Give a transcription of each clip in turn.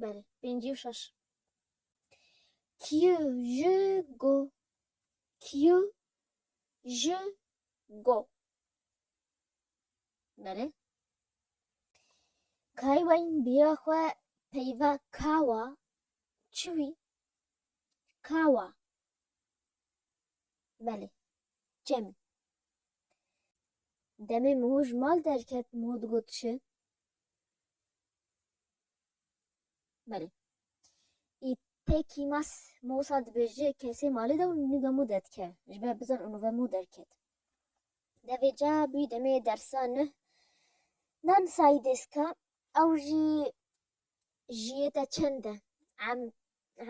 Belê, pêncî û şeş. Kî ji go Kî ji go Belê. Kayê weyn bîra xwe peyva kawa çi wî? Kawa Belê, çemî. Demê Miho ji mal derket Miho digot çi? Belê. Î tê kîmas mosa dibêje kesê malê de û nuvemo de dike. Ji ber bizan û nuvemo derket. De vê ca bûyî demê dersa nuh. Nan sayî dêska ew jî jiyê te çend e? Em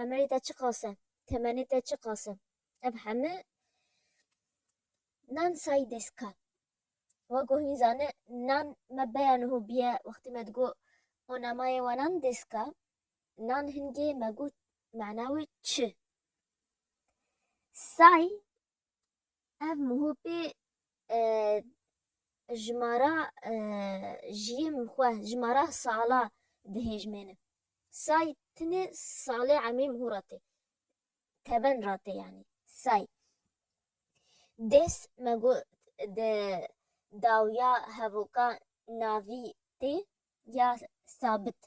emerê te çiqas e? Temenê te çiqas e? Ev heme nan sayî dêska. We ku hîn zane nan me beya niho biye wextî me digo o namayê wanan dêska nan hingê me got mana wê çi say ev mihopê ji mara jiyê min xwe ji mara sala dihêjmêne say tinê salê emrê miho ra tê teven ratê yanî say. Dês me got di dawiya hevoka navî tê ya sabit.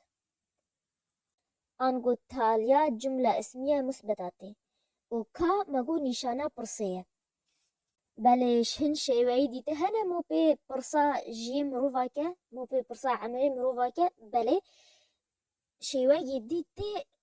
Ango taliya cumla ismiye musbeta tê û ka me got nîşana pirsê ye. Belê ji hin şêweyî dîte hene mo pê pirsa jiyê mirova ke, mo pê pirsa emirê mirova ke belê şêweyê dîtê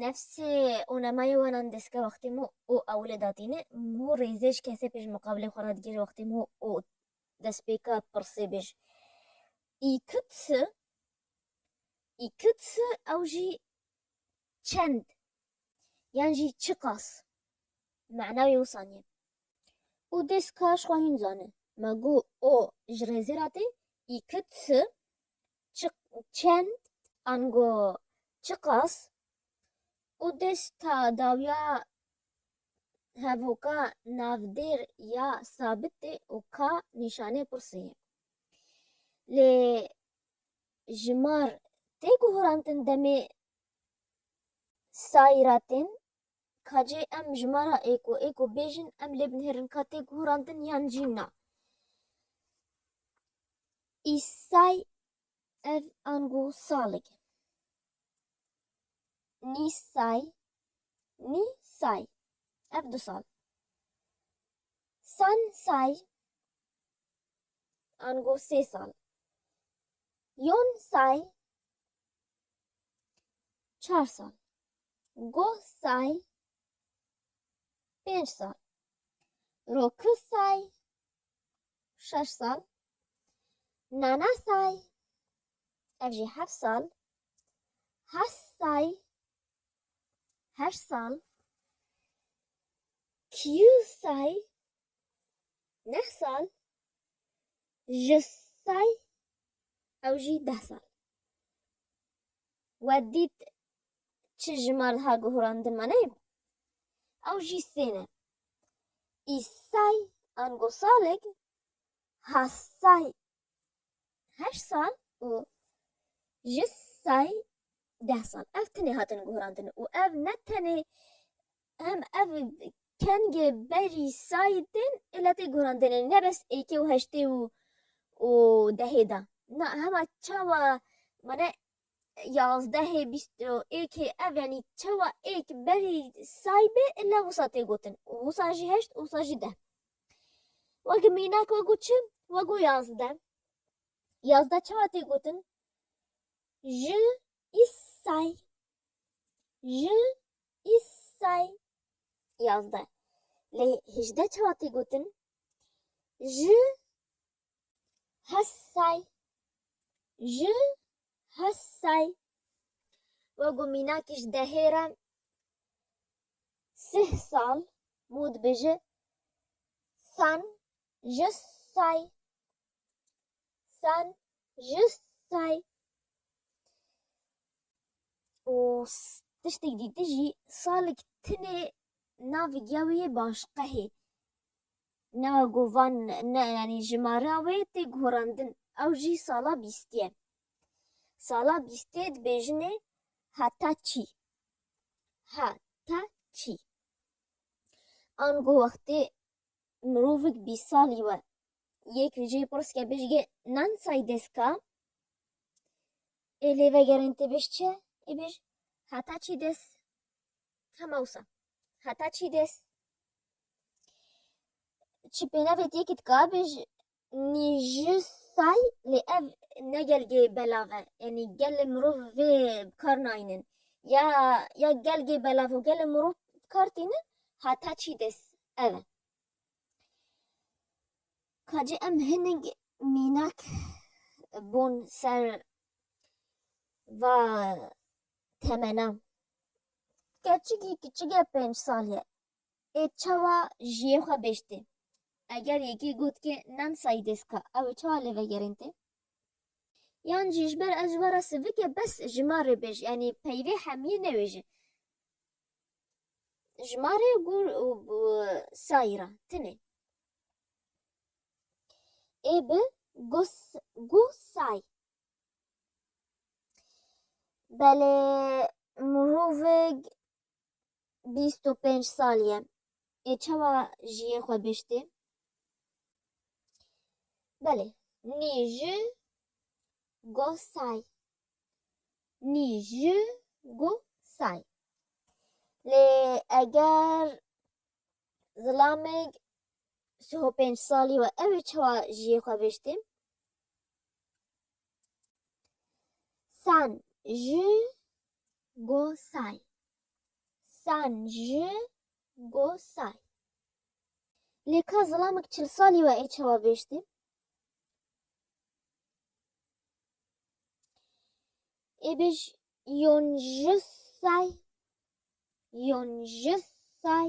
Nefsê û nemayê wan an diske wextê mû û ewilê datîne, mû rêzê ji kesê pê ji miqabilê xwe re digere wextê mû û destpêka pirsê bê ji Î kut si, Î kut si ew jî çend yan jî çiqas mana wê wisa nîye. Û dêska ji xwe hîn zane. Ma gu o ji rêzê re tê, Î kut si çend ango çiqas û desta dawiya hevoka navdêr ya sabitê û ka nîşanê pirsê ye. Lê ji mar tê guhurantin demê sayîratên ka cê em ji mar a êko êko bêjin em lê binêrin ka tê guhurantin yan jî na. Îsay ev ango salig e. Nîsay, Ni say, ev du sal. San say ango sê sal. Yon say çar sal. Goh say pênc sal. Roki say şeş sal, Nana Say, ev jî heft sal, Has Say, heşt sal, Kyu Say, neh sal, Ji Say, ew jî deh sal. We dît çi jimar diha guhurandin me neyê? Ew jî sê ne. Îsay Angosalig Hasay heşt sal û Jisay deh sal ev tinê hatin guhrandin û ev ne tenê hem ev kengê berî sayî tên ê lê tê guhrandinê ne bes êkê û heştê û û dehê de na hema çawa mane Yazdehê bîst û êkê ev yanî çawa êk berî say be illa wisa tê gotin û wisa jî heşt û wisa jî deh. Wek mînak wego çi? Wego yazdeh. Yazdeh çawa tê gotin? Ji îs say. Ji îs say. Yazdeh. Lê hêjdeh çawa tê gotin? Ji Hesay ji Hesay wek û mînakî ji dehê re sih sal mû dibêje San ji Say San ji Say û tiştêk dî tijî salik tinê navê giya wê yê başqehê. Newe Govan ne yanî jimara wê tê guhrandin. Ew jî sala bîstiyê. Sala bîstiyê dibêjinê heta çî. He ta çî. Ango wextê mirovik bîst salî we yek li cihê pirs ke bêjge nan say deska ê lê vegerên tê bêj çi? Ê bêj heta çî des Hema wisa. Heta çî dês. Çi pênavê tê ki dika bê ji nîji say lê ev ne gelgê belav e. Yanî gelê mirov vê bi kar nayînin. Ya ya gelgê belav û gelê mirov bi kar tînin heta çî dês ev e. Kacê em hinek mînak bûn ser va temenan. Keçikî kiçik e pênc sal ye. Ê çawa jiyê xwe bêj tê. Eger yekê got ke nan sayî dêska ew ê çawa lê vegerên tê? Yan jî ji ber ez ji we re sivik e bes ji ma rê bêj yanî peyvê hemiyê newêje. Ji ma rê û sayî re tinê. Ê bi guh say. Belê mirovik bîst û pênc sal ye. Ê çawa jiyê xwe biştê? Belê, nî ji goh say. Nî ji goh say. Lê eger zilamik sih û pênc salî we ew ê çawa jiyê xwe biştê? San ji go say. San ji go say. Lê ka zilamek çil salî we ê çawa bêjtî? Ê bêj yon ji say. Yon ji say.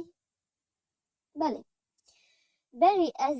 Belê. Berî ez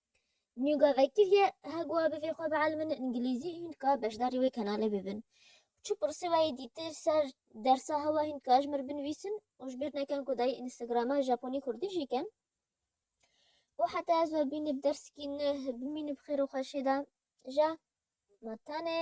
Nûga vekiriye hegwa bivê xwe bielmin îngilîzî hîn dika beşdarî wê kenalê bibin. Çi pirsê we yê dîtir ser dersa hewa hîn dika ji mir binivîsin û ji bîr nekin ku dayê Instagrama Japonî Kurdî jî kin. Û heta ez we bînib dersikî nuh bimîni bi xêr û xweşê de ja ma tenê.